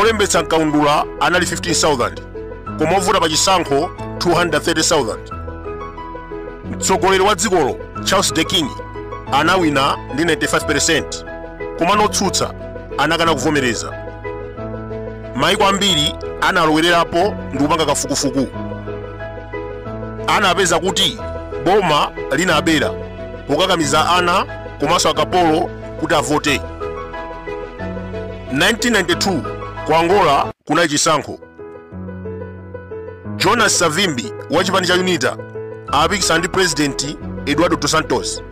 olembetsa mkaundula anali 15,000 koma ovota pa chisankho 230,000 mtsogoleri wa dzikolo charles d b king anawina ndi 95% koma otsutsa anakana kuvomereza maiko ambiri analowererapo ndi kupanga kafukufuku anapeza kuti boma linabera pokakamiza ana komanso akapolo kuti avote 1992 ku angola kunali chisankho jonas savimbi wa chipani cha unita anapikisana ndi purezidenti eduardo dos santos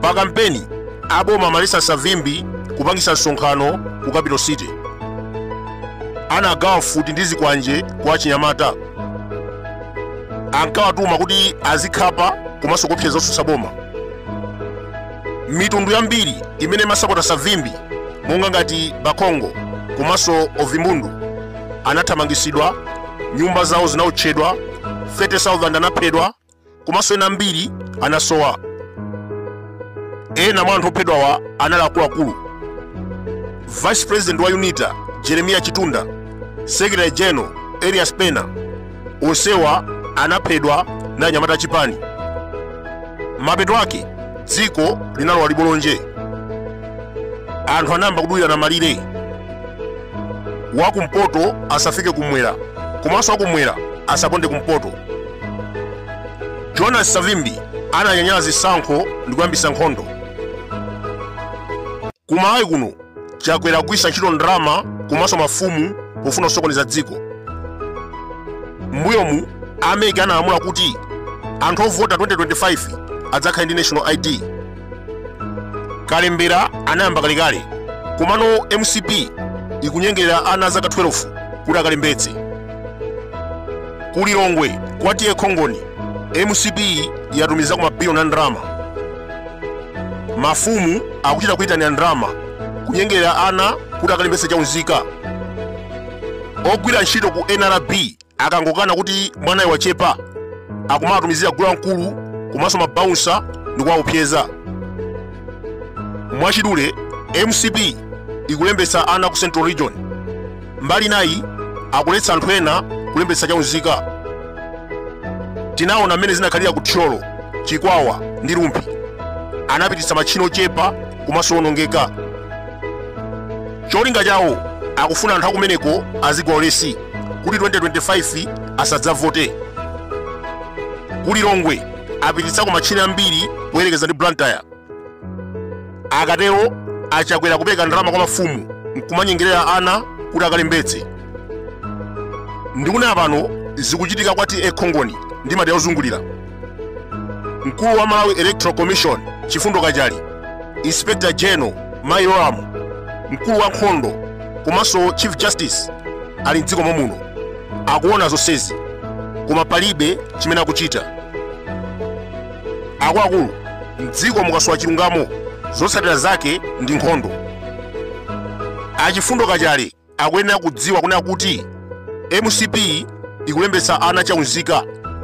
pa kampeni aboma amaletsa savimbi kupangitsa msonkhano ku capital city anagawa mfuti ndi zikwanje kwa achinyamata ankawatuma kuti azikhapa komanso kuopseza osutsa boma mitundu yambiri imene imasapota savimbi monga ngati bakongo komanso ovimbundu anathamangitsidwa nyumba zawo zinaotchedwa 30,000 anaphedwa komanso ena ambiri anasowa ena mwa anthu ophedwawa anali akuluakulu vice president wa unita jeremias chitunda secretary general elias pena onsewa anaphedwa ndi anyamata a chipani mapeto ake dzikoli linalowa libolonje anthu anayamba kudulirana malire wakumpoto asafike kumwera komanso wakumwera asaponde kumpoto jonas savimbi ananyanyala zisankho ndi kuyambitsa nkhondo Ku Malawi kuno, Chakwera akugwiritsa ntchito ndalama komanso mafumu pofuna kusokoneza dziko. M'mbuyomu, a mec analamula kuti anthu ovota 2025 adzakhale ndi national ID. Kalembera anayamba kalekale, komano mcp ikunyengerera ana azaka 12 kuti akalembetse. Ku Lilongwe, kwa TA Khongoni, mcp yatumizako mabiliyoni a ndalama. mafumu akuchita kuyitanira ndalama kunyengerera ana kuti akalembetse chaunzika ogwira ntchito ku nrb akangokana kuti mwanayo wachepa akumawatumizira gule wamkulu komanso mabaunsa ndi kuwaopseza mwachidule mcp ikulembetsa ana ku central region Mbali inayi akuletsa anthu ena kulembetsa chaunzika. Tinaona mmene zinakhalira ku Thyolo, Chikwawa ndi Rumphi. Anapititsa matchini ochepa komanso owonongeka. Cholinga chawo akufuna anthu akumeneko azigwa ulesi kuti 2025 asadzavote. Ku Lilongwe apititsako matchini ambiri poyerekeza ndi Blantyre. akatero a chakwera kupereka ndalama kwa mafumu nkumanyengerera ana kuti akalembetse ndikunena pano zikuchitika kwa ta khongoni ndi madera ozungulira mkulu wa malawi electoral commission chifundo kachali inspector general mai yolamu mkulu wa nkhondo komanso chief justice ali mdziko momuno akuona zonsezi koma palibe chimene akuchita akuluakulu mdziko mukasowa chilungamo zotsatira zake ndi nkhondo a chifundo kachali akuyenera kudziwa kunena kuti mcp ikulembetsa ana chaunzika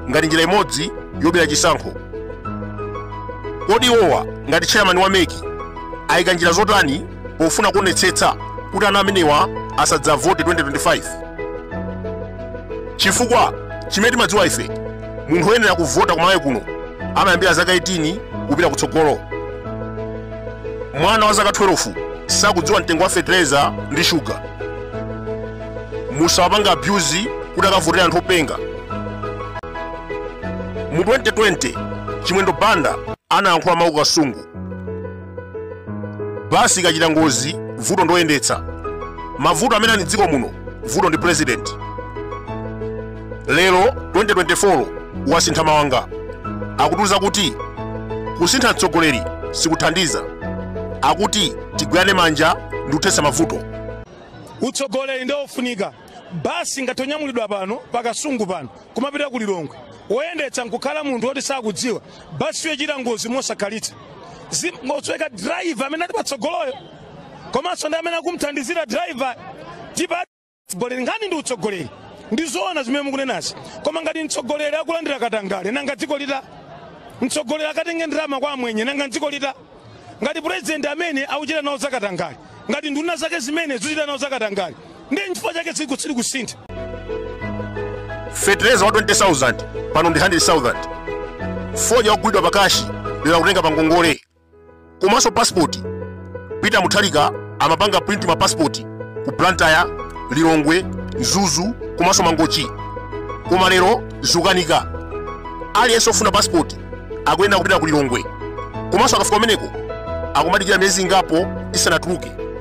ngati njira imodzi yobera chisankho kodi iwowa ngati chairman wa mec ayika njira zotani pofuna kuonetsetsa kuti ana amenewa asadzavote 2025 chifukwa chimene timadziwa ife munthu oyenera kuvota kumalawi kuno amayambira zaka 18 kupita kutsogolo mwana wa zaka 12 sakudziwa mtengo wa fetereza ndi shuga musawapanga abuse kuti akavotere anthu openga mu 2020 chimwendo banda anayankhula mawu ku kasungu basi ikachita ngozi vuto ndoyendetsa mavuto amene ali mdziko muno vuto ndi president lero 2024 wasintha maanga akutiuza kuti kusintha mtsogoleri sikuthandiza akuti tigwirane manja ndi kuthetsa mavuto utsogoleri ndiwo ufunika basi ngati tanyamulidwa pano pakasungu pano kumapita ku lilongwe woyendetsa nkukhala munthu woti sakudziwa basiyo ichita ngozi mosakhalitsa nkusweka driver amene ali patsogoloyo komanso ndi amene akumthandizira driver tipa utsogoleri nkhani ndi utsogoleri ndi zoona zimene mukunenazi koma ngati mtsogoleri akulandira katangale nanga dziko litani mtsogoleri akatenge ndalama kwa amwenye nanga dziko litani ngati purezidenti amene akuchita nawo zakatangale ngati nduna zake zimene zikuchita nawo zakatangale ndi nchifukwa chake dziko silikusintha fetereza wa 20000 pano ndi 100000 fodya wogulidwa pakashi lero akutenga pangongole komanso pasipoti peter mutharika amapanga print ma pasipoti ku blantyre lilongwe mzuzu komanso mangochi koma lero zukanika aliyense ofuna pasipoti akuyenera kupita ku lilongwe komanso akafika kumeneko akumadikira miyezi ingapo isanatuluke